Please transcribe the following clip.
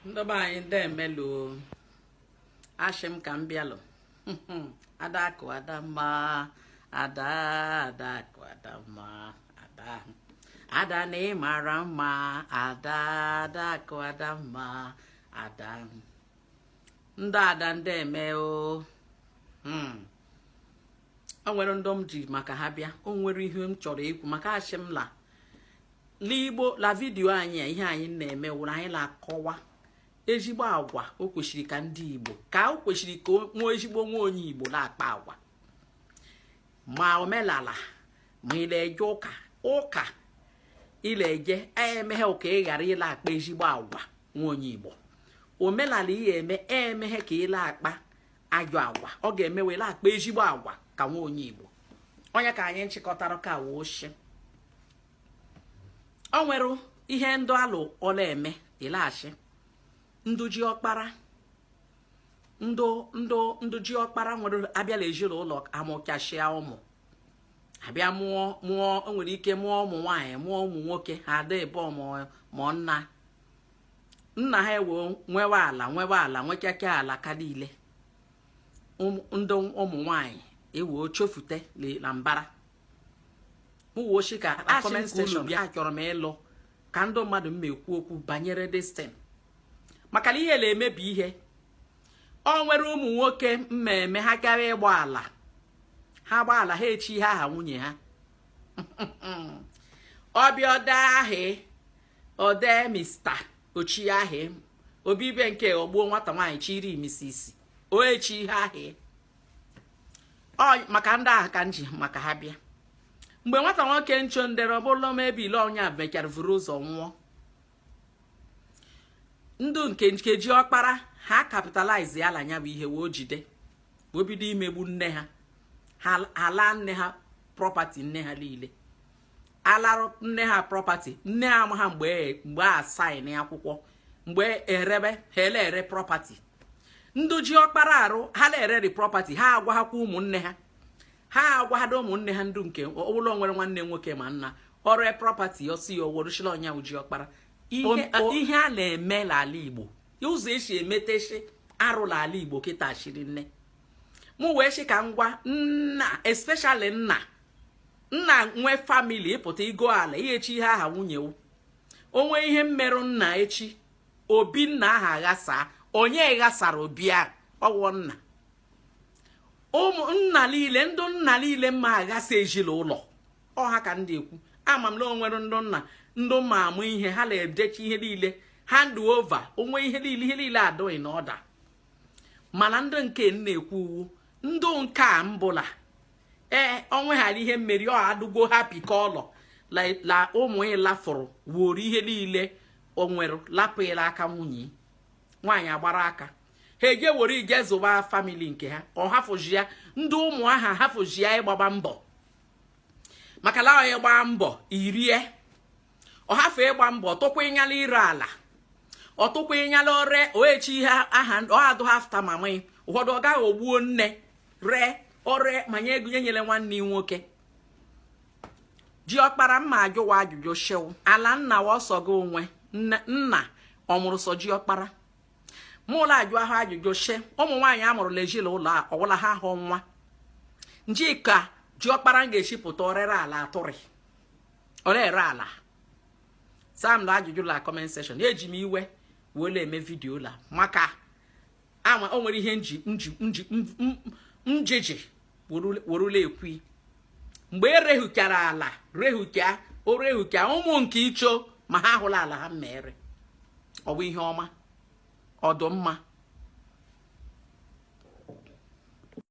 ndị be anyị ndeeme lụ ashị m ka m bịalụ adakụ adamma ada adakụ adamma ada ada na ị mara mma ada adakụ adamma ada ndị ada ndeeme o hmm. o nwere ndị m ji maka ha bịa o nwere ihe m chọrọ ikwu maka ashị m la l'igbo la video anyị a ihe anyị na-eme wụrụ anyị na-akọwa ezigbo agwa o kwesịrị ka ndị igbo ka o kwesịrị ka nwa ezigbo nwa onye igbo na-akpa agwa ma omelala ma ị na-eje ụka ụka ị na-eje emeghe ka ị ghara ịla-akpa ezigbo agwa nwa onye igbo omelala ị le-eme emeghe ka ị la-akpa ajọ agwa ọ ga-eme ị la-akpa ezigbo agwa ka nwa onye igbo onye ka anyị nchịkọtara ka woo shi o nwere ihe ndụ ala ọ la-eme ị la-ashị ndụ ji ọkpara ndụ ndụ ndụ ji ọkpara nwere a bịa la ezinụlọ amụkashịa ụmụ abịa mụọ mụọ o nwere ike mụọ ụmụ nwaanyị mụọ ụmụ nwoke ha ada ebe mụọ nna nna ha ewe nwewe ala nwewe ala nwekeke ala ka niile ndị ụmụ nwaanyị ewee chụfute la mbara mụwochi ka comment section bịa achọrọ m ịlụ ka ndị mmadụ m ekwu okwu banyere this thing maka na ihe na-emebi ihe o nwere ụmụ nwoke mmemme ha gara ịgba ala ha gba ala ha echi ihe aha nwunye ha ọ bịa ọda ahị o de mista ochi ahị obibe nke ọgbuo nwata nwaanyị chiri misisi o echi ihe ahị ọ maka ndị ahụ ka m ji maka ha bịa mgbe nwata nwoke ncho ndere ọ bụ la maybe le ọ nya mechara vuru ụzọ nwụọ ndụ nke nke ji ọkpara ha capitalize ya la nya bụ ihe wee jide wee bido imegbu nne ha ha alaa nne ha property nne ha niile alarụ nne ha property nne ha amaghị mgbe mgbe a sign akwụkwọ mgbe erebe ha ele ere property ndị ji ọkpara arụ ha na-ereri property ha agwaghakwa ụmụnne ha ha agwaghado ụmụnne ha ndụ nke ụlọ nwere nwanne nwoke ma nna ọrụ property ọ sị ya o worushi la ọ nya wụ ji ọkpara ihe a na-eme n'ala igbo ụzọ esi emeteshi arụ n'ala igbo kịta shiri nne mụ wee sị ka m gwa nna especially nna nna nwe family ịpụta igo ala ihechi ihe aha nwunye onwe ihe mmerụ nna echi obi nna aha aghasa onye ghasara obi a ọ wụ nna ụmụ nna niile ndị nna niile mma aghasa ezinụlọ ha ka ndị ekwu ama m na o nwere ndị nna dụ mma amụ ihe ha na-edechi ihe niile hand over onwe ihe niile ihe niile adụ in order mana ndị nke na-ekwu wụ ndị nke a mbụ la ee ọnwe ghara ihe mmeri ọ adụgo happy ka ọlọ la ụmụ ịlafụrụ wuru ihe niile o nwere lapụ ịla aka nwunye nwaanyị agbara aka ha eje were ije zụba family nke ha ọ hafụji ya ndị ụmụ aha hafụji ya ịgbaba mbọ maka la ị gbaa mbọ i rie ọ hafụ ịgba mbọ tụkwa ịnyala ire ala ọ tụkwa ịnyala ore oechi ihe aha ọ adụ ha after mama ụfọdụ ọ gaghị ogbuo nne ree ore ma nye ego nye nyere nwanne ya nwoke ji ọkpara mma ajụwa ajụjụ sị ala nna wa ọ sọ gị nwe nna ọ mụrụ sọ ji ọkpara mụ la-ajụ ahụ ajụjụ sị ụmụ nwaanyị a mụrụ la ezi la ụlọ a ọ wụ la ha ahụ nwa njika ji ọkpara m ga-echipụta o rere ala atụrị ọ na-ere ala saa m na ajụjụ la comment section eji m iwe wee na-eme video la maka ama o nwere ihe nji nji nji njiji weru la-ekwu mgbe e rehukara ala rehuka o rehuka ụmụ nke icho ma ha hụla ala ha mere ọ bụ ihe ọma ọ dụ mma